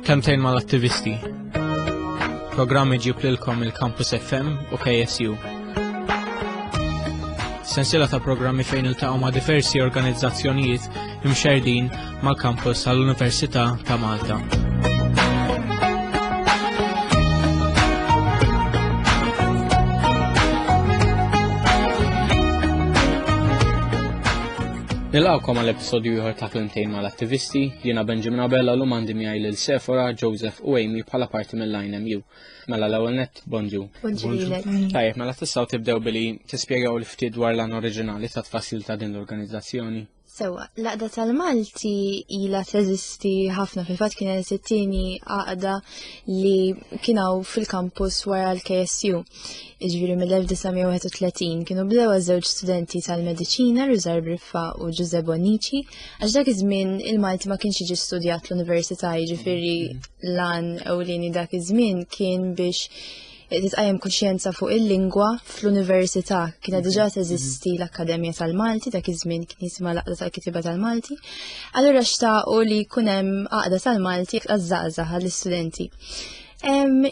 Kemtejn mal-attivisti. Programmi ġib lilkom il-Campus FM u KSU. Sensila ta' programmi fejn il-taqaw ma' diversi organizzazzjonijiet imxerdin mal-kampus għall-Università ta' Malta. Nilqgħukom għal episodju ieħor ta' Klimtejn mal-Attivisti, jiena Benjamin Abella l għandi miegħi lil Sefora, Joseph u Amy bħala parti mill-INMU. Mela l-ewwel net bonġu. Tajjeb, mela tistgħu tibdew billi tispjegaw l ftit dwar l-għan oriġinali ta' tfassil ta' din l-organizzazzjoni. Sewa, laqda tal-Malti ila teżisti ħafna fil-fatt kien it-tieni għaqda li kienaw fil-kampus wara l-KSU. Iġviri mill-1931 kienu bdew żewġ studenti tal-mediċina Rizar Briffa u Giuseppe Bonici għax dak iż-żmien il-Malti ma kienx jiġi studjat l-università jiġifieri lan ewlieni dak iż-żmien kien biex titqajem kuxjenza fuq il-lingwa fl-università kienet diġà teżisti l-Akkademja tal-Malti dak iż-żmien kien jisimha l-Aqda tal-Kitiba tal-Malti. Allura xtaqu li jkun hemm Aqda tal-Malti għaż-żgħażagħ għall-istudenti.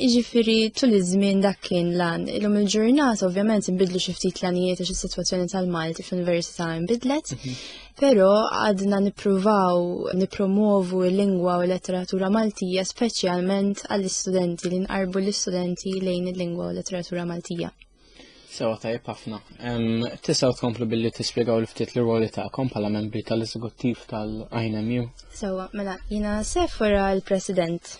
Iġifiri, tul iż-żmien dak kien lan. Illum il-ġurnata, ovvjament, nbidlu xi ftit l-anijiet għax is-sitwazzjoni tal-Malti fl-università nbidlet, mhm. però għadna nippruvaw nippromovu l-lingwa u l-letteratura Maltija speċjalment għall-istudenti li nqarbu l-istudenti lejn il-lingwa u l-letteratura Maltija. Sewa tajjeb ħafna. Tisa' tkomplu billi tispjegaw l ftit l-rwoli tagħkom bħala membri tal-eżekuttiv tal-INMU. Sewa, mela, jina sefora l-President.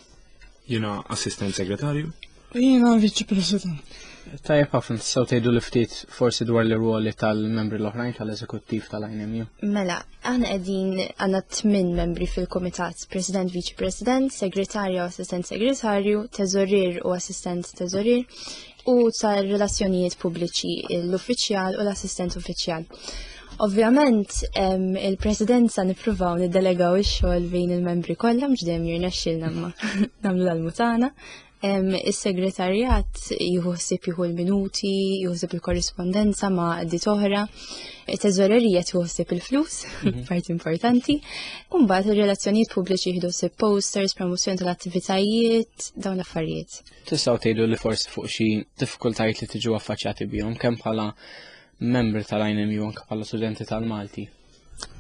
Jina assistent segretarju. Jina viċi President. Tajjeb ħafna tistgħu tgħidu l ftit forsi dwar l-rwoli tal-membri l-oħrajn tal-eżekuttiv tal-INMU. Mela, aħna qegħdin għandna tmien membri fil-Kumitat, President, Viċi President, Segretarja u Assistent Segretarju, Teżorir u Assistent Teżorir, u tar relazzjonijiet pubbliċi l-uffiċjal u l-assistent uffiċjal. Ovvjament, il-presidenza nippruvaw niddelegaw ix-xogħol bejn il-membri kollha mhux dejjem jirnexxilna ma nagħmlu l-mutana. Is-segretarjat jħossib jieħu l-minuti, jħossib il-korrispondenza ma' għaddi oħra, it-teżorerija tħossib il-flus, mhm. parti importanti, u mbagħad ir-relazzjonijiet pubbliċi jieħdu posters, promozzjoni tal-attivitajiet, dawn l-affarijiet. Tistgħu tgħidu li forsi fuq xi diffikultajiet li tiġu affaċċjati bihom kemm bħala membri tal-INMU anke bħala studenti tal-Malti?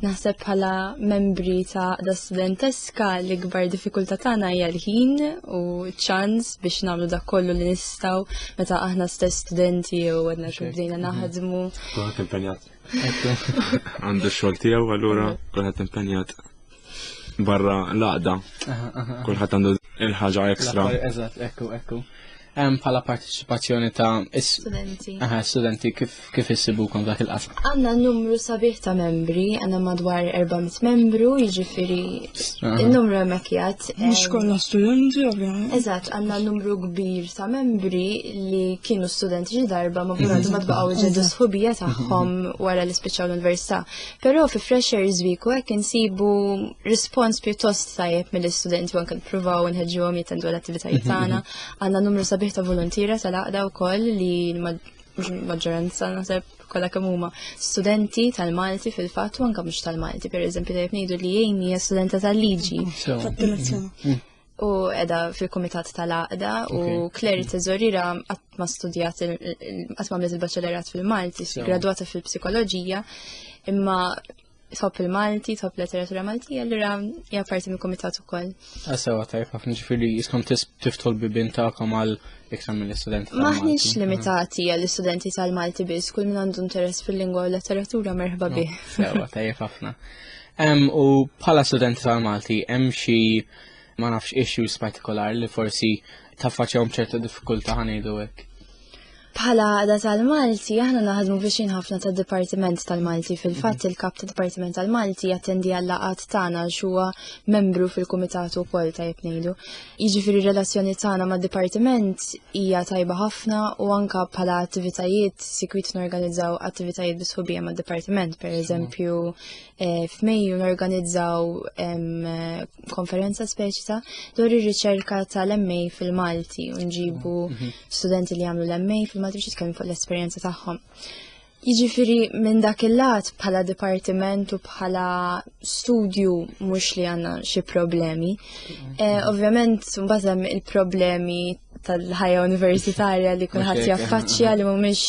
Naħseb bħala membri ta' da studenteska l-ikbar diffikultà tagħna hija l-ħin u ċans biex nagħmlu dak kollu li nistgħu meta aħna stess studenti jew għadna xi bdejna mhm. naħdmu. Kulħadd impenjat. Għandu x-xogħol tiegħu allura kulħadd impenjat. barra l-għaqda. Kulħadd għandu il-ħaġa ekstra. Eżatt, ekku, ekku. Hemm bħala parteċipazzjoni ta' studenti. Aha, studenti kif kif issibukom dak il-qasam. Għandna numru sabiħ ta' membri, għandna madwar 400 membru, jiġifieri n-numru hemmhekk jgħid. Mhux kollha studenti ovvjament. Eżatt, għandna numru kbir ta' membri li kienu studenti xi darba ma bħalhom ma tbaqgħu ġedu sħubija tagħhom wara li spiċċaw l-università. Però fi Fresher Zwiku hekk insibu rispons pjuttost tajjeb mill-istudenti u anke nippruvaw nħeġġuhom jittendu l-attivitajiet mhm, tagħna. Mhm. Għandna numru sabiħ ta' volontira tal-għaqda wkoll li maġġoranza naħseb kollha kemm huma studenti tal-Malti fil-fatt u anke mhux tal-Malti, pereżempju dejjem ngħidu li Amy hija studenta tal-liġi. u edha fil-Komitat tal-Aqda u Kleri Teżorira qatt ma studjat qatt ma għamlet il-baċċellerat fil-Malti, gradwata fil-psikoloġija, imma tħobb il-Malti, tħobb letteratura Maltija, allura hija parti mill-Komitat ukoll. Asewa ah, tajb ħafna ġifieri jiskom tiftħol bibin tagħkom għal iktar mill-istudenti. Maħniex limitati għall-istudenti tal-Malti biss, kull min għandu interess fil-lingwa u letteratura merħba bih. Sewa tajb ħafna. U bħala studenti tal-Malti hemm xi ma nafx issues partikolari li forsi taffaċjahom ċerta diffikultà ħanejdu hekk. Bħala għada tal-Malti, aħna naħdmu biex ħafna ta' Dipartiment tal-Malti. Fil-fatt mhm. il-kap ta' Dipartiment tal-Malti jattendi għall-laqat tagħna xuwa membru fil-Kumitat ukoll ta' jibnejdu. Jiġifieri relazzjoni tagħna ma' Dipartiment hija tajba ħafna u anka bħala attivitajiet sikwit norganizzaw attivitajiet bisħubija ma' Dipartiment, pereżempju Eh, F'Mejju norganizzaw konferenza speċita dwar ir-riċerka tal-MA fil-Malti u nġibu mm, mhm. studenti li jagħmlu l-MA fil-Malti biex jitkellmu fuq l-esperjenza tagħhom. Jiġifieri minn dak il-lat bħala dipartiment u bħala studju mhux li għandna xi problemi. Mm, mhm. eh, ovvjament mbagħad hemm il-problemi tal-ħajja universitarja li kulħadd jaffaċċja li mhumiex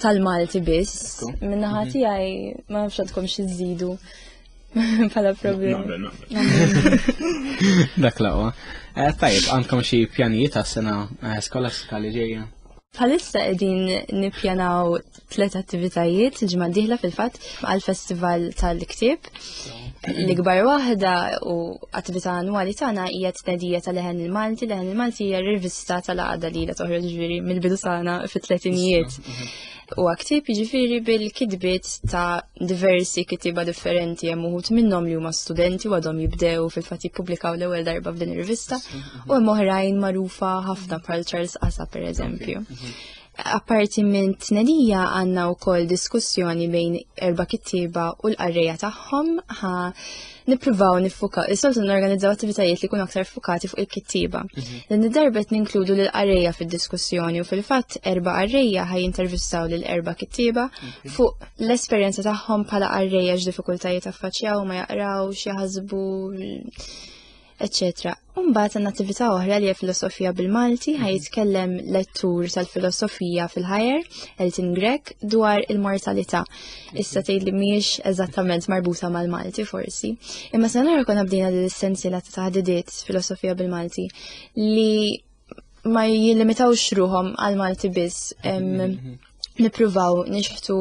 tal-Malti biss. Minnaħa mhm. tiegħi ma nafx għandkom xi żidu bħala problemi. Dak laqwa. Eh, tajib, għandkom xi pjanijiet għas-sena eh, skolastika li ġejja? Bħalissa qegħdin nippjanaw tlet attivitajiet ġimgħa diħla fil-fatt għal festival tal-ktieb. L-ikbar waħda u attività annwali tagħna hija tnedija tal-leħen il-Malti, leħen il-Malti hija rivista tal-għada li la toħroġ ġifieri mill-bidu tagħna fit-tletinijiet. U għaktib ġifiri bil-kidbit ta' diversi kitiba differenti hemm uħut minnhom li huma studenti u għadhom jibdew fil-fatt jippubblikaw l-ewwel darba f'din ir-rivista u hemm oħrajn magħrufa ħafna bħal Charles Asa pereżempju. Apparti minn tnedija għanna u kol diskussjoni bejn erba kittiba u l-qarreja tagħhom ħa nippruvaw nifuka. Is-soltu norganizzaw attivitajiet li kun aktar fukati fuq il-kittiba. Mhm. Din id-darbet ninkludu l qarreja fid-diskussjoni u fil-fatt erba qarreja ħaj intervistaw l erba kittiba fuq l-esperjenza tagħhom bħala qarreja x'diffikultajiet affaċċjaw ma jaqraw, xi ħasbu eccetera. Umbat għan attività oħra li filosofija bil-Malti ħaj jitkellem lettur tal-filosofija fil-ħajer, Elton Grek, dwar il-mortalità. Issa tgħid li mhijiex eżattament marbuta mal-Malti forsi. Imma se nara konna bdejna l essenzjela ta' taħdidiet filosofija bil-Malti li ma jilimitawx ruhom għal-Malti biss. Mhm, mhm. nippruvaw nixħtu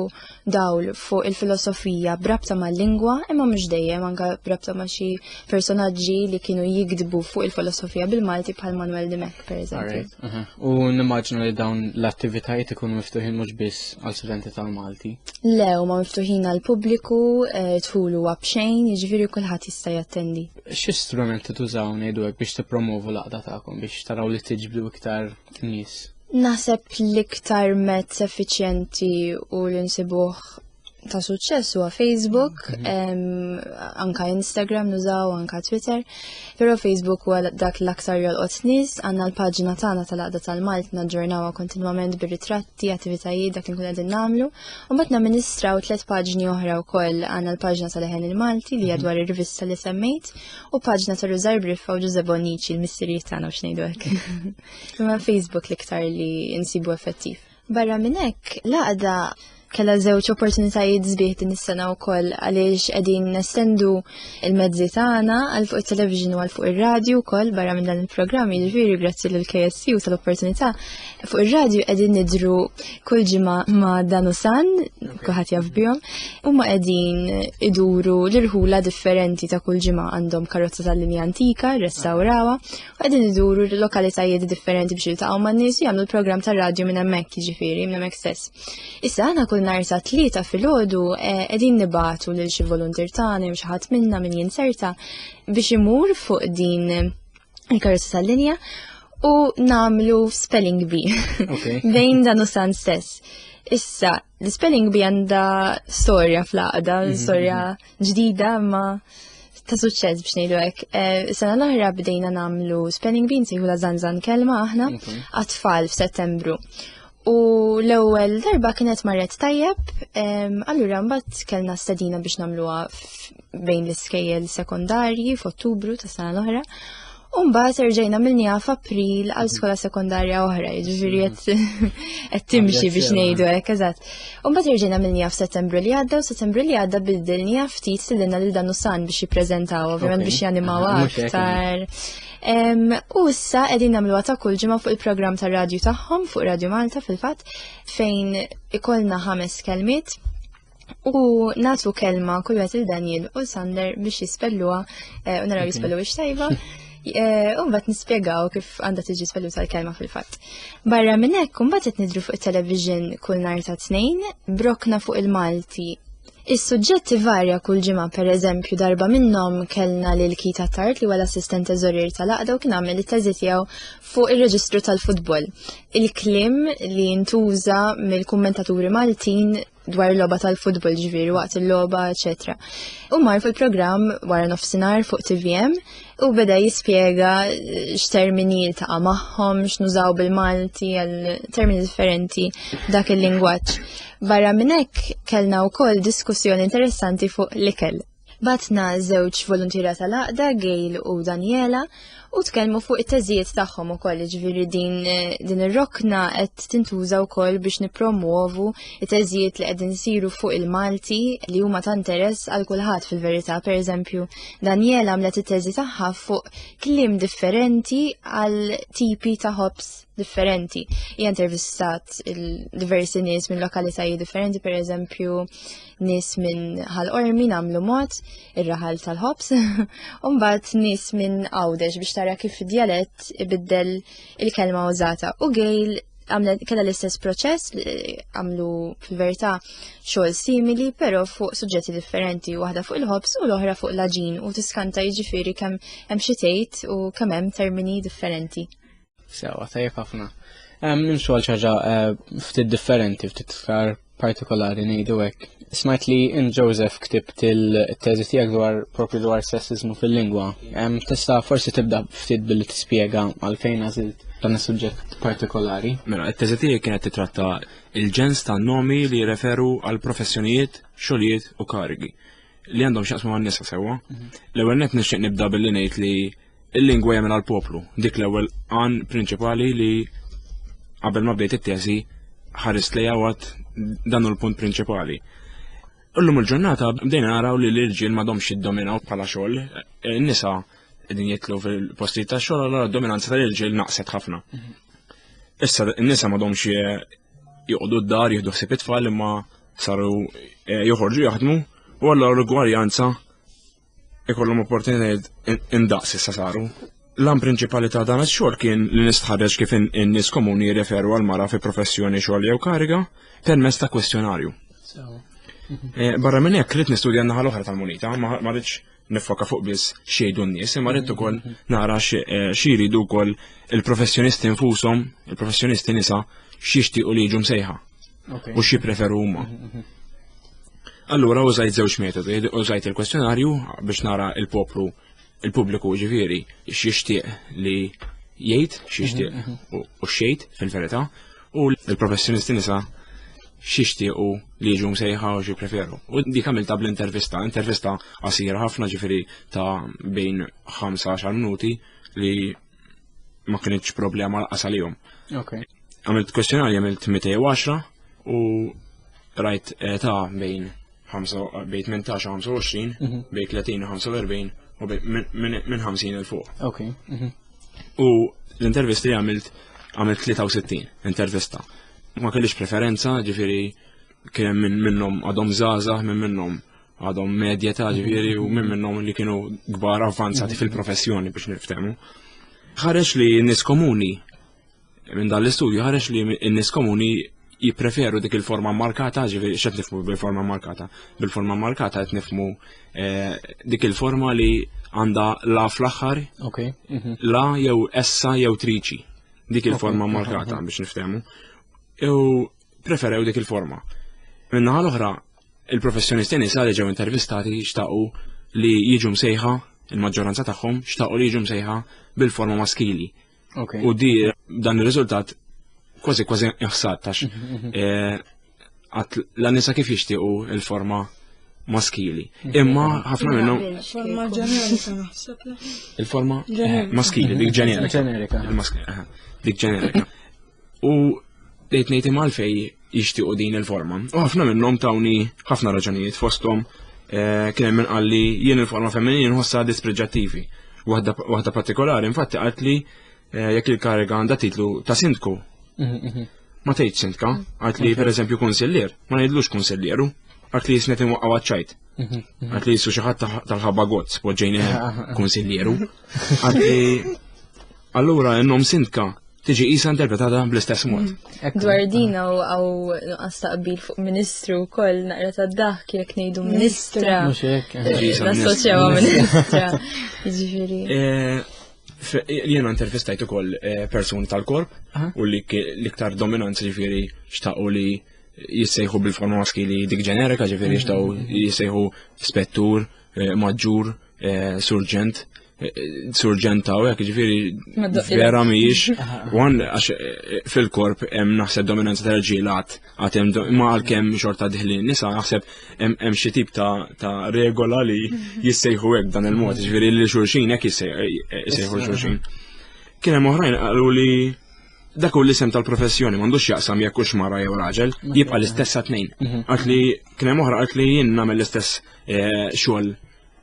dawl fuq il-filosofija brabta ma' lingwa imma mhux dejjem anka brabta ma' xi personaġġi li kienu jikdbu fuq il-filosofija bil-Malti bħal Manuel Dimek pereżempju. Uh-huh. U nimmaġnu li dawn l-attivitajiet ikunu miftuħin mhux biss għal studenti tal-Malti. Le, huma miftuħin għal pubbliku, eh, tħulu b'xejn, jiġifieri kulħadd jista' jattendi. Xi strumenti tużaw ngħidu hekk biex tippromovu l-aqda tagħkom biex taraw li tiġbdu iktar nies. Naħseb l-iktar mezz effiċjenti u l-insibuħ ta' suċċess huwa Facebook, mm-hmm. anka Instagram nużaw, anka Twitter, però Facebook huwa dak l-aktar jolqot nies, għandna l-paġna tagħna tal-għaqda tal-Malt naġġornawha kontinwament bir-ritratti, attivitajiet dak li nkun qegħdin nagħmlu, u mbagħad namministraw tliet paġni oħra wkoll għandna l-paġna tal-eħen il-Malti li hija mm-hmm. dwar ir-rivista li semmejt, U paġna ta' Rużar Briffa u Ġuże Bonnici l-missirijiet tagħna u xnejdu hekk. Imma Facebook l-iktar li insibu effettiv. Barra minn hekk, laqda kella żewġ opportunitajiet zbieħ din is-sena wkoll għaliex qegħdin nestendu il-mezzi tagħna għal fuq it-television u għal fuq ir-radju wkoll barra minn dan il-programm, jiġifieri grazzi lill KSC u tal-opportunità Fuq ir-radju qegħdin nidru kull ġimgħa ma' dan u san, kuħat jaf bihom, huma qegħdin iduru l-irħula differenti ta' kull ġimgħa għandhom karozza tal-linja antika, restawrawa, u qegħdin iduru l-lokalitajiet differenti biex jiltaqgħu man nies u jagħmlu l-programm tar-radju minn hemmhekk jiġifieri, minn hemmhekk stess. Issa aħna kull nhar sa tlieta filgħodu eh, qegħdin nibatu lil xi voluntir tagħna jew xi ħadd minna min jinserta biex imur fuq din il-karozza tal-linja u namlu spelling bee okay. bejn dan u san stess. Issa, l-spelling bee għanda storja fl-għada, mm -hmm. storja ġdida ma ta' suċċess biex ngħidu hekk. Eh, sena l-oħra bdejna nagħmlu spelling bee nsejħu la zanzan kelma aħna għat-tfal f'Settembru. U l-ewwel darba kienet marret tajjeb, allura mbagħad kellna stedina biex nagħmluha bejn l-iskejjel sekondarji f'Ottubru tas sena l-oħra. U mbagħad erġejna milniha f'April għal skola sekondarja oħra, jiġifieri qed timxi biex ngħidu hekk eżatt. U mbagħad erġejna milniha f'Settembru li għadda u Settembru li għadda bidilniha ftit sillilna lil dan San biex jippreżentaw, ovvjament biex janimaw aktar. U issa qegħdin nagħmluha ta' kull ġimgħa fuq il-programm tar-radju tagħhom fuq Radju Malta fil-fatt fejn ikollna ħames kelmiet u natu kelma kull wieħed il Daniel u Sander biex jispelluha eh, u naraw jispellu biex tajba. Eh, u mbagħad nispjegaw kif għandha tiġi spellu tal-kelma fil-fatt. Barra minn hekk imbagħad qed nidru fuq it-television kull nhar ta' tnejn, brokna fuq il-Malti Is-suġġett ivarja kull ġimgħa, pereżempju darba minnhom kellna lil Kita Tart li huwa l-assistent teżorier tal-għaqda u kien għamel it-teżi tiegħu fuq ir-reġistru tal-futbol. Il-kliem li ntuża mill-kummentaturi Maltin dwar il-logħba tal-futbol ġifieri waqt il-logħba, eċetera. U mar fil-programm wara nofsinhar fuq TVM u beda jispjega eh, x'termini ta' magħhom, x'nużaw bil-Malti għal termini differenti dak il-lingwaġġ. Barra minn hekk kellna wkoll diskussjoni interessanti fuq l-ikel. Batna żewġ volontira tal-aqda, Gail u Daniela, u tkellmu fuq it-teżijiet tagħhom ukoll, ġifieri din eh, din ir-rokna qed tintuża wkoll biex nippromuovu it-teżijiet li qegħdin isiru fuq il-Malti li huma ta' interess għal kulħadd fil-verità, pereżempju Daniela għamlet it-teżi tagħha fuq kliem differenti għal tipi ta' ħobs differenti. Hija intervistat diversi nies minn lokalitajiet differenti, per eżempju nies minn ħal ormi namlu mod ir-raħal tal-ħobs, u mbagħad nies minn għawdex biex tara kif id-djalett ibiddel il-kelma użata. U gejl għamlet kella l-istess proċess għamlu fil-verità xogħol simili però fuq suġġetti differenti waħda fuq il-ħobs u l-oħra fuq l-aġin u tiskanta jiġifieri kemm hemm xi tgħid u kemm hemm termini differenti. Sewa tajjeb ħafna. Hemm nimxu għal ċaġa eh, ftit differenti, ftit iktar partikolari ngħidu hekk. Smajt li in Joseph ktibt il-teżi tiegħek dwar propju dwar sessizmu fil-lingwa. Tista' forsi tibda ftit billi tispjega għalfejn għażilt dan is-suġġett partikolari. Mela, it-teżi tiegħi kienet titratta il-ġens ta' nomi li jirreferu għal professjonijiet, xogħlijiet u karigi li għandhom x'jaqsmu għan-nisa sewwa. Mhm. L-ewwel net nixtieq nibda billi ngħid li Il-lingwa jagħmel għal poplu, dik l-ewwel għan prinċipali li qabel ma bdejt it-teżi ħarist lejha għad dan hu l-punt prinċipali. Illum il-ġurnata bdejna naraw li l-irġiel m'għadhomx jiddominaw bħala xogħol, eh, nisa qegħdin jitlu fil-postijiet ta' xogħol allura d-dominanza tal-irġiel naqset ħafna. Issa n-nisa m'għadhomx eh, joqogħdu d-dar jieħdu ħsieb it-tfal imma saru eh, joħorġu jaħdmu u allura l-gwarjanza ikollhom opportunitajiet indaqs issa saru. L-għan prinċipali ta' dan ix-xogħol kien li nistħarreġ kif in-nies komuni jirreferu għal mara fi professjoni xogħol jew kariga permezz ta' kwestjonarju. Eh, barra minn hekk rrid nistudja n-naħa l-oħra tal-munita, ma rridx nifoka fuq biss xejdu n-nies, imma rrid ukoll nara eh, xi jridu wkoll il-professjonisti nfushom, il-professjonisti nisa x'jixtiequ li jiġu msejħa. u xi preferu huma. Allura użajt żewġ metodi, użajt il-kwestjonarju biex nara il-poplu il-pubbliku ġifieri x'jixtieq li jgħid, x'jixtieq u xejt fil-verità, u l-professjonisti nisa xixtiequ li jiġu msejħa u preferu. U dik għamilta bl-intervista, intervista qasira ħafna ġifiri ta' bejn 15 minuti li ma kienx problema l-qas għalihom. Okay. Għamilt kwestjonarju għamilt 210 u rajt ta' bejn bejn 18 u 25, mhm. bejn 30 u 45 u minn 50 il fuq. Ok. Mhm. U l-intervisti li għamilt għamilt 63 intervista. Ma kellix preferenza, ġifiri kien minn minnhom għadhom żgħażagħ, minn minnhom għadhom medja ta' ġviri u minn minnhom li kienu kbar avvanzati mhm. fil-professjoni biex niftemu. Ħareġ li n-nis komuni minn dan l-istudju ħareġ li n-nis komuni jipreferu dik il-forma markata, ġiviri xed nifmu bil-forma markata. Bil-forma markata qed nifmu eh, dik il-forma li għanda la fl-axħar, mhm. la jew essa jew triċi. Dik il-forma markata biex niftemu. Ew preferew dik il-forma. Minnaħa l-oħra, il-professjonisti nisa li ġew intervistati xtaqu li jiġu msejħa il-maġġoranza tagħhom xtaqu li jiġu msejħa bil-forma maskili. Okay. U di dan ir-riżultat kważi kważi iħsad tax mhm, mhm. Eh, għat l-nisa kif jixtiequ il-forma maskili. Mhm. Imma ħafna minnhom. Forma ġenerika naħseb. Il-forma eh, maskili, dik ġenerika. Ġenerika. Eh, dik ġenerika. U tgħid ngħid imgħal fej jixtiequ din il-forma. U ħafna minnhom tawni ħafna raġunijiet fosthom eh, kien hemm qal li jien il-forma femminili nħossha dispreġġattivi. Waħda partikolari infatti qalt li eh, jekk il-kariga għandha titlu ta' sindku. Mhm, mhm. Ma tgħid sindka, qalt li pereżempju kunsillier, ma ngħidlux kunsillieru, qalt li jisnet inwaqgħu ċajt. Mhm, għalt li jissu xi ħadd tal-ħabba gozz poġġejni kunsiljeru. Anzi, allura n-nom sindka tiġi jisa interpretata bl-istess mod. Mm. Dwar din għaw għaw għastaqbil fuq ministru kol naqra ta' daħ kiek nejdu ministra. Nassoċjawa eh, ministra. Ġifiri. Eh, Jena intervistajtu kol eh, personi tal-korp u li ktar dominanza ġifiri xtaqu li jissejħu bil-formaski li dik ġenerika ġifiri xtaqu jissejħu spettur, maġġur, eh, surġent surġenta u jek ġifiri vera miġ għan eh, fil-korp hemm naħseb dominanza ta' ġilat għatem ma għal-kem xorta diħli nisa naħseb hemm xi tip ta' regola li jissejħu hekk dan il-mod ġifiri li xurxin hekk jissejħu xurxin. Kien hemm oħrajn qalu li dak u l-isem tal-professjoni m'għandux jaqsam jekk hux mara jew raġel, jibqa' l-istess tnejn. Mhm. Għad li kien hemm oħra qalt li jien nagħmel l-istess eh, xogħol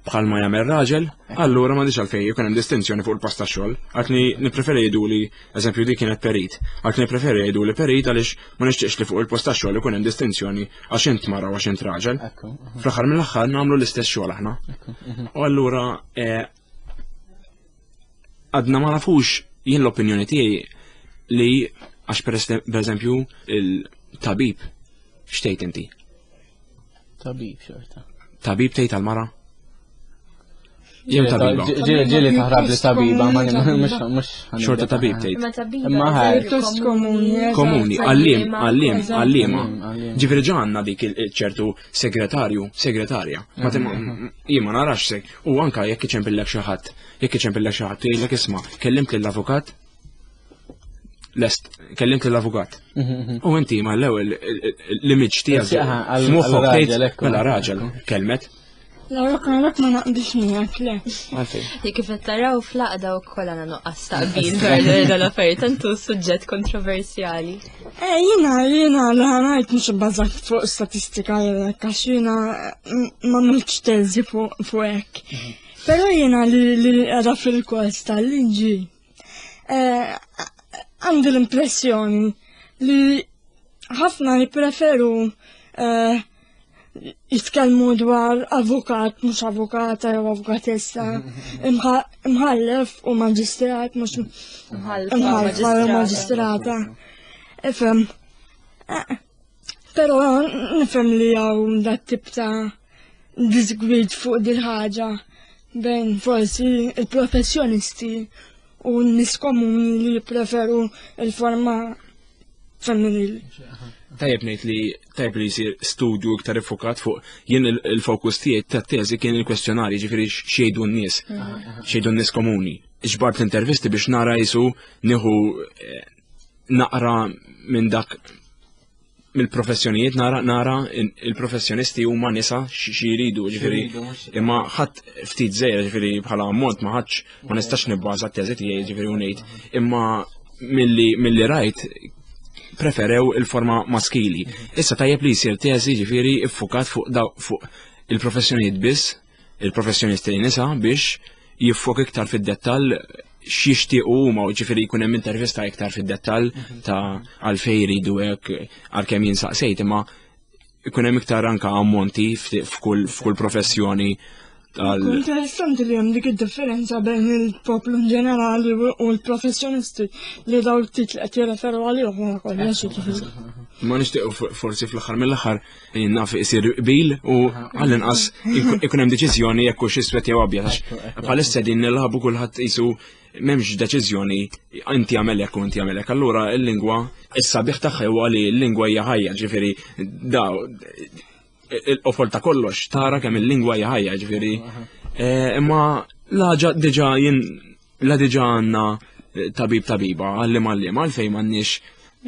bħal ma jagħmel raġel, allura m'għandix għalfejn jkun hemm distinzjoni fuq il-post tax-xogħol. Għalkemm nippreferi jgħidu li eżempju dik kienet perit. Għalkemm nippreferi jgħidu li perit għaliex ma nixtieqx li fuq il-post tax-xogħol ikun hemm distinzjoni għax int mara għax int raġel. Fl-aħħar mill-aħħar nagħmlu l-istess xogħol aħna. U allura eh, għadna ma nafux jien l-opinjoni tiegħi li għax per eżempju il-tabib xtejt inti. Tabib xorta. Tabib tgħid għal-mara? Jem tabiba. Ġili taħrab li tabiba, ma mux. Xorta tabib tgħid. Ma ħajr. Komuni, għallim, għallim, għallima. Ġifiri ġanna dik il-ċertu segretarju, segretarja. Ma tim mm-hmm. jien ma narax seg. U anka jekk iċem billek xi ħadd, jekk iċem billek xi ħadd jgħidlek isma' kellimt lill-avukat lest kellimt lill-avukat. Mm-hmm. U inti ma l-ewwel l-image tiegħek f'moħħok tgħid mela raġel kelmet Laura Karlak ma naqdix miegħek le. Li kif qed taraw fl-għaqda wkoll għandna nuqqas taqbil dwar l affarijiet tantu suġġett kontroversjali. Eh jiena jiena li ħanajt mhux ibbażat fuq statistika jew hekk għax jiena ma mhux teżi fuq hekk. Mhm. Però jiena li qiegħda fil-kors tal-liġi eh, għandi l-impressjoni li ħafna jippreferu eh, jitkellmu dwar avukat, mhux avukata jew avukatessa, imħallef u maġistrat, mhux imħallef u maġistrata. Ifhem. Eh, però nifhem li hawn dat tip ta' disgwid fuq dil ħaġa bejn forsi il-professjonisti u n-nis komuni li jippreferu il-forma femminil. Tajjeb ngħid li tajjeb li jsir studju iktar ifokat fuq jien il-fokus tiegħi ta' teżi kien il-kwestjonari ġifieri xejdu n-nies, xejdu n-nies komuni. Ġbart l-intervisti biex nara jisu nieħu eh, naqra minn dak mill-professjonijiet nara nara il-professjonisti huma nisa xi jridu ġifieri imma ħadd ftit żejra ġifieri bħala ammont ma ħadx ma nistax nibbaża t-teżi tiegħi ġifieri ngħid imma milli milli rajt preferew il-forma maskili. Issa tajjeb li jsir teżi ġifieri iffukat fuq fuq il-professjonijiet biss il-professjonisti nisa biex jiffok iktar fid-dettall x'jixtiequ huma u ġifieri jkun hemm intervista iktar fid-dettall ta' għalfejn jridu hekk għalkemm jinsaqsejt imma jkun hemm iktar anka ammonti f'kull professjoni tal. Interessanti li hemm dik id-differenza bejn il-poplu in ġenerali u l-professjonisti li daw l-tit li qed jirreferu għalihom wara kollox. Ma nixtieq forsi fl-aħħar mill-aħħar naf isir qbil u għall-inqas ikun hemm deċiżjoni jekk hux iswed jew abjad għax bħalissa din nilħabu kulħadd isu m'hemmx deċiżjoni inti għamel hekk u inti għamel hekk. Allura l-lingwa issa biħ tagħha huwa li l-lingwa hija ħajja, ġifieri da il-qofol ta' kollox tara kemm il-lingwa hija ħajja, ġifieri eh, imma laġa diġà jien la diġà għandna eh, tabib tabiba għallim għallim għalfejn m'għandniex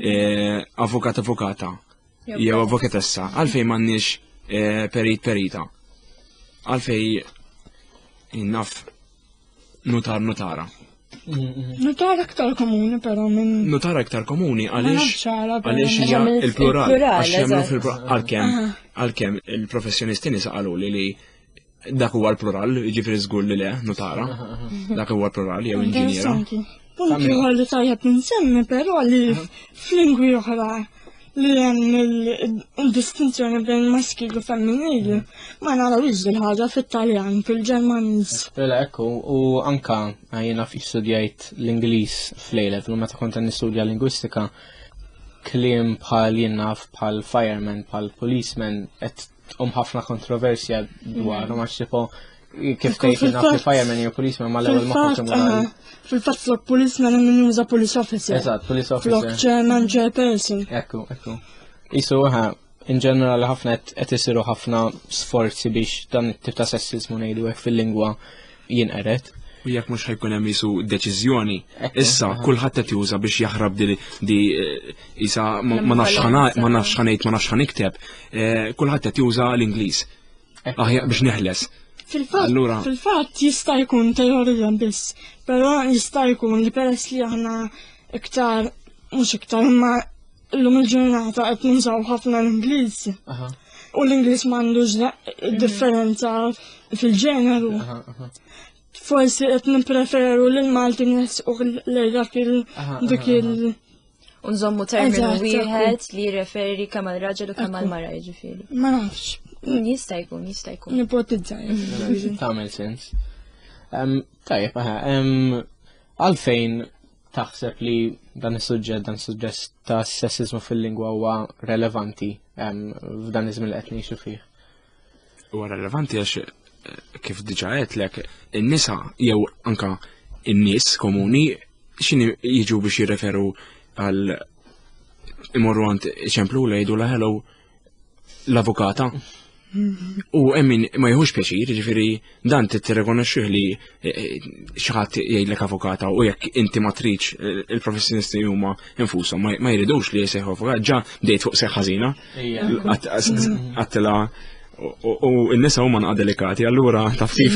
eh, avukat avukata jew avokatessa, għalfejn m'għandniex eh, perit perita. Għalfejn naf nutar nutara. Nutar aktar komuni però minn. Nutar aktar komuni għaliex għaliex hija il-plural għax jagħmlu fil-plural għalkemm għalkemm il-professjonisti nisa qalu li li Dak huwa l-plural, jiġifieri żgur li le, notara. Dak huwa l-plural jew inġiniera. Punt ieħor li tajjeb insemmi però li f'lingwi oħra li hemm il-distinzjoni bejn maskil u femminil ma narawx din ħaġa fit-Taljan, fil-Ġermaniż. Mela ekku, u anka jiena studjajt l-Ingliż fl-lejlet, u meta kont nistudja lingwistika, kliem bħal jinnaf bħal fireman, bħal policeman, qed tqum ħafna kontroversja dwar, mm. ma xifo kif tgħid naf li fireman jew policeman ma l-ewwel ma ħafna Fil-fatt flok policeman min juża police officer. Eżatt, police officer. Flok chairman chairperson. Ekku, ekku. Isu ħa, in ġenerali ħafna qed isiru ħafna sforzi biex dan it-tip ta' sessizmu ngħidu hekk fil-lingwa jinqered u jekk mhux ħajkun hemm jisu deċiżjoni. Issa kulħadd qed juża biex jaħrab di di eh, isa ma nafx ħanajt, ma nafx ħanejt, ma nafx ħanikteb, eh, kulħadd qed juża l-Ingliż. Aħjar biex neħles. Fil-fatt, fil-fatt jista' jkun teorija biss, però jista' jkun li peress li aħna iktar mhux iktar imma Illum il-ġurnata qed nużaw ħafna l-Ingliż. U l-Ingliż m'għandux differenza fil-ġeneru. Forsi qed nippreferu lil Malti u lejn dak il dik il- Unżommu terminu wieħed li jirreferi kemm għal raġel u kemm għal mara jiġifieri. Ma nafx. Mm, jista' jkun, jista' jkun. Nipotizza. Tagħmel sens. Tajjeb, Għalfejn taħseb li dan is-suġġett, dan is-suġġett ta' sessizmu fil-lingwa huwa relevanti f'dan iż-żmien li qed ngħixu fih? Huwa relevanti għax eh, kif diġà għedlek, in-nisa jew anka in-nies komuni x'inhi jiġu biex jirreferu għal imorru għand ċemplu lejdu la hello l-avukata. U emmin ma jħux pjaċir, ġifiri dan t-rekonosċu li eh, eh, xaħat jgħidlek avokata u jekk inti matriċ eh, il-professjonisti huma infusom ma jridux li jseħu avukat ġa dejt fuq seħħazina għattela u n-nisa huma nqa delikati, allura taf kif.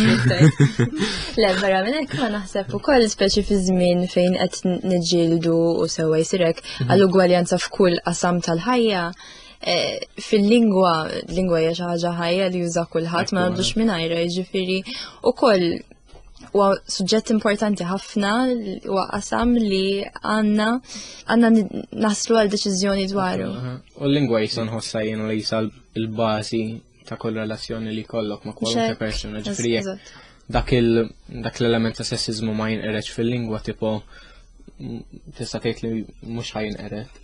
Le, vera minn hekk ma naħseb ukoll speċi fi żmien fejn qed niġġieldu u sewwa jsirek mhm. għall-ugwaljanza f'kull qasam tal-ħajja, Eh, fil-lingwa, lingwa hija xi ħaġa ħajja li juża kulħadd ma għandux mingħajra, jiġifieri ukoll huwa suġġett importanti ħafna huwa qasam li għandna għandna naslu għal deċiżjoni dwaru. U l-lingwa jisa nħossha jiena li jisa l-bażi ta' kull relazzjoni li kollok ma' kwalunkwe persuna ġifri dak dak l-element ta' sessizmu ma jinqereġ fil-lingwa tipo tista' tgħid li mhux ħajn qered.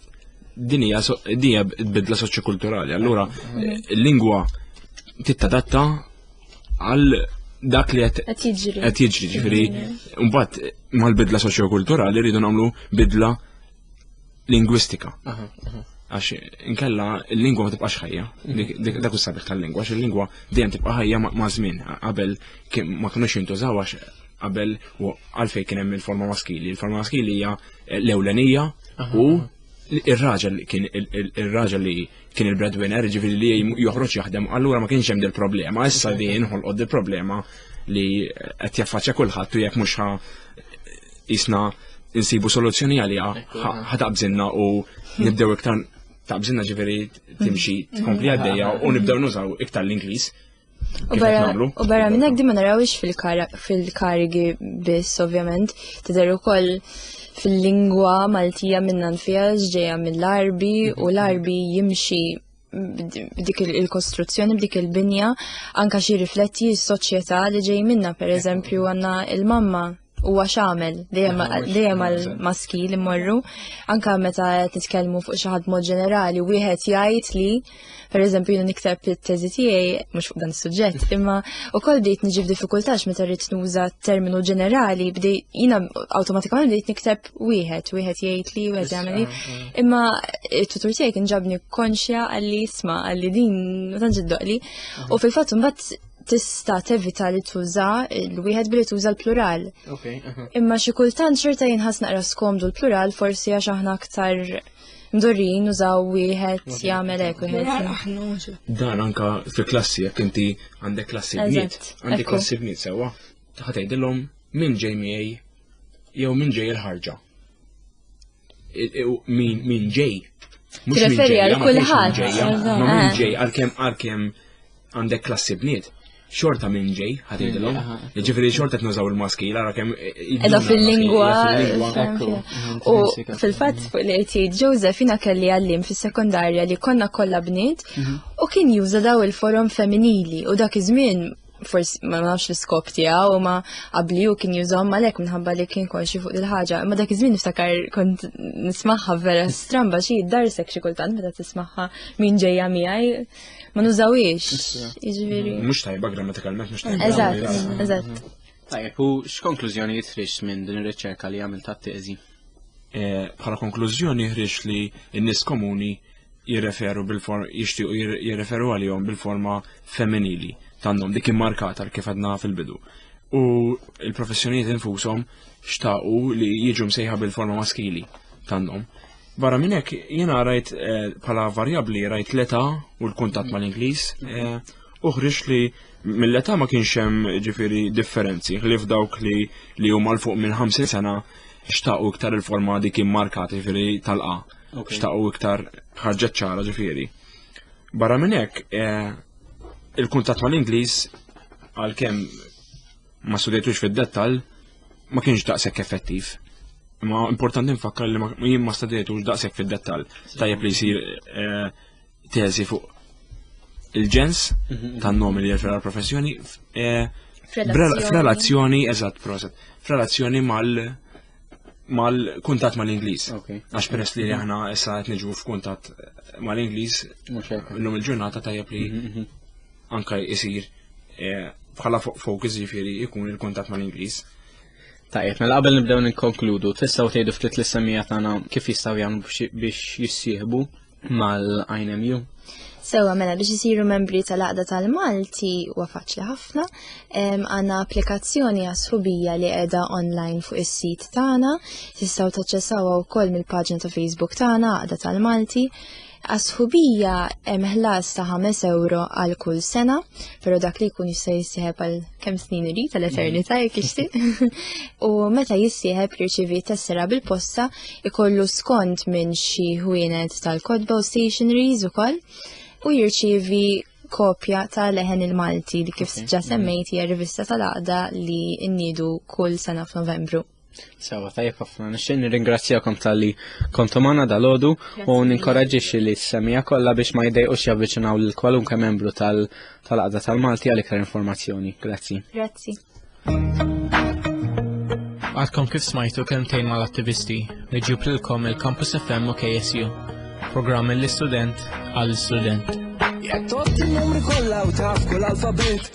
Din hija dinja bidla soċjokulturali, allura l-lingwa tittadatta għal dak li qed jiġri. Qed jiġri ġifieri mbagħad mal-bidla soċjokulturali rridu nagħmlu bidla lingwistika. Għax inkella il-lingwa ma tibqax ħajja, mhm. dak is-sabiħ tal-lingwa, għax il-lingwa dejjem tibqa' ħajja ma' żmien qabel ma kinux jintużaw għax qabel u għalfej kien hemm il-forma maskili. Il-forma maskili hija l-ewlenija u ir-raġel kien ir-raġel li kien il-breadwinner, ġifieri li joħroġ jaħdem, allura ma kienx hemm dil problema issa li jinħolqod dil problema li qed jaffaċċja kulħadd u jekk mhux Isna insibu soluzzjoni għaliha ħataqbżinna u nibdew iktar taqbżinna ġifieri timxi tkompli mm. għaddejja u nibdew nużaw iktar l-Ingliż. U barra minn hekk ma narawx fil-karigi biss ovvjament tidher ukoll fil-lingwa Maltija minnan fija ġeja mill-arbi u l-arbi jimxi b'dik il-kostruzzjoni, b'dik il-binja, anka xi rifletti s-soċjetà li ġej minna, per eżempju, għanna il-mamma huwa x'għamel dejjem għal maski li morru anka meta titkellmu fuq xi ħadd mod ġenerali wieħed jgħid li pereżempju jien nikteb it-teżi tiegħi mhux fuq dan is-suġġett mm. imma wkoll bdejt niġi f'diffikultax meta rrid nuża terminu ġenerali bdej jiena awtomatikament bdejt nikteb wieħed wieħed jgħid li wieħed jagħmel ah, ah. imma it-tutur tiegħi kien ġabni konxja għalli isma' għalli din ma tantx iddoqli mm. u fil-fatt imbagħad tista' tevita li tuża l-wieħed billi tuża l-plural. Imma xi kultant xorta jinħas naqra skomdu l-plural forsi għax aħna aktar mdorrin użaw wieħed jagħmel hekk wieħed. Dan anka fi klassi jekk inti għandek klassi bniet, għandek klassi bniet sewwa, ħatejdilhom minn ġej miegħi jew minn ġej il-ħarġa. Min ġej. Tirreferi għal kulħadd. Min ġej għalkemm għalkemm għandek klassi bniet xorta minn ġej, ħatidilom. Ġifiri xorta t-nużaw il-maski, l-għara kem. Edha fil-lingwa. U fil-fat fuq li għajti, Joseph jina kelli għallim fil-sekundarja li konna kolla bniet mhm. u kien juża daw il-forum femminili u dak iż-żmien forsi ma nafx l-iskop tiegħu u ma qabliju kien jużhom għalhekk minħabba li kien konxi fuq il-ħaġa. Imma dak iż-żmien niftakar kont nismagħha vera stramba xi darsek xi kultant meta tismagħha min ġejja miegħi ma nużawiex. Jiġifieri. Mhux tajba grammatikalment mhux tajba. Eżatt, eżatt. Tajjeb, u x'konklużjonijiet ħriġt minn din ir-riċerka li għamil tat-teżi? e, bħala konklużjoni ħriġ li n-nies komuni jirreferu bil-forma jixtiequ jirreferu għalihom bil-forma femminili tandom dik immarkata kif għadna fil-bidu. U il-professjonijiet infushom xtaqu li jiġu msejħa bil-forma maskili tandom. Barra minn hekk jiena rajt eh, bħala varjabbli rajt l-età u l-kuntatt mal-Ingliż eh, uħriġ li mill-età ma kienx hemm ġifieri differenzi li f'dawk li li huma l fuq minn 50 sena xtaqu iktar il-forma dik immarkat ġifieri tal-qa. Xtaqu iktar ħarġet ċara ġifieri. Barra minn hekk eh, il-kuntatt mal-Ingliż għalkemm ma studejtux fid-dettall ma kienx daqshekk effettiv. Ma importanti nfakkar li jien ma studejtux daqshekk fid-dettall. Tajjeb li jsir eh, teżi fuq il-ġens mhm. tan-nomi li jirfera l-professjoni eh, f'relazzjoni, eżatt, proset, f'relazzjoni mal- mal-kuntat mal-Inglis. Għax peress li aħna issa qed niġu f'kuntat mal-Inglis, l-lum il-ġurnata tajjeb li mhm, mhm. anka jisir eh, bħala fokus jifieri jkun il-kuntat mal-Inglis. Tajjeb, mela qabel nibdew nikkonkludu, tistgħu tgħidu ftit l-issemija tagħna kif jistgħu jagħmlu biex jissieħbu mal-INMU. Sewa mela biex isiru membri tal-Aqda tal-Malti huwa faċli ħafna. Għandna applikazzjoni għas-sħubija li qiegħda online fuq is-sit tagħna. Tistgħu taċċessawha wkoll mill-paġna ta' Facebook tagħna Aqda tal-Malti. Għas-sħubija hemm ħlas ta' 5 euro għal kull sena pero dak li jkun jista' jissieħeb għal kemm snin irid tal eternità jekk ixtieq. u meta jissieħeb jirċivi tessera bil-posta ikollu skont minn xi ħwienet tal-kotba u stationaries ukoll u jirċivi kopja ta' leħen il-Malti li kif ġa semmejt hija rivista tal-għaqda li nniedu kull sena f'Novembru. Sewa, tajjeb ħafna, nixtieq nirringrazzjakom tal-li kontu magħna dal-għodu u ninkoraġġixxi li s-semija kollha biex ma jdejqux javviċinaw lil kwalunkwe membru tal-qagħda tal-Malti għal iktar informazzjoni. Grazzi. Grazzi. Għadkom kif smajtu kelmtejn mal-attivisti li ġiblilkom il-Campus FM u KSU. Programm l-istudent għall-student. Jattot il-numri kollha u taf kull alfabet.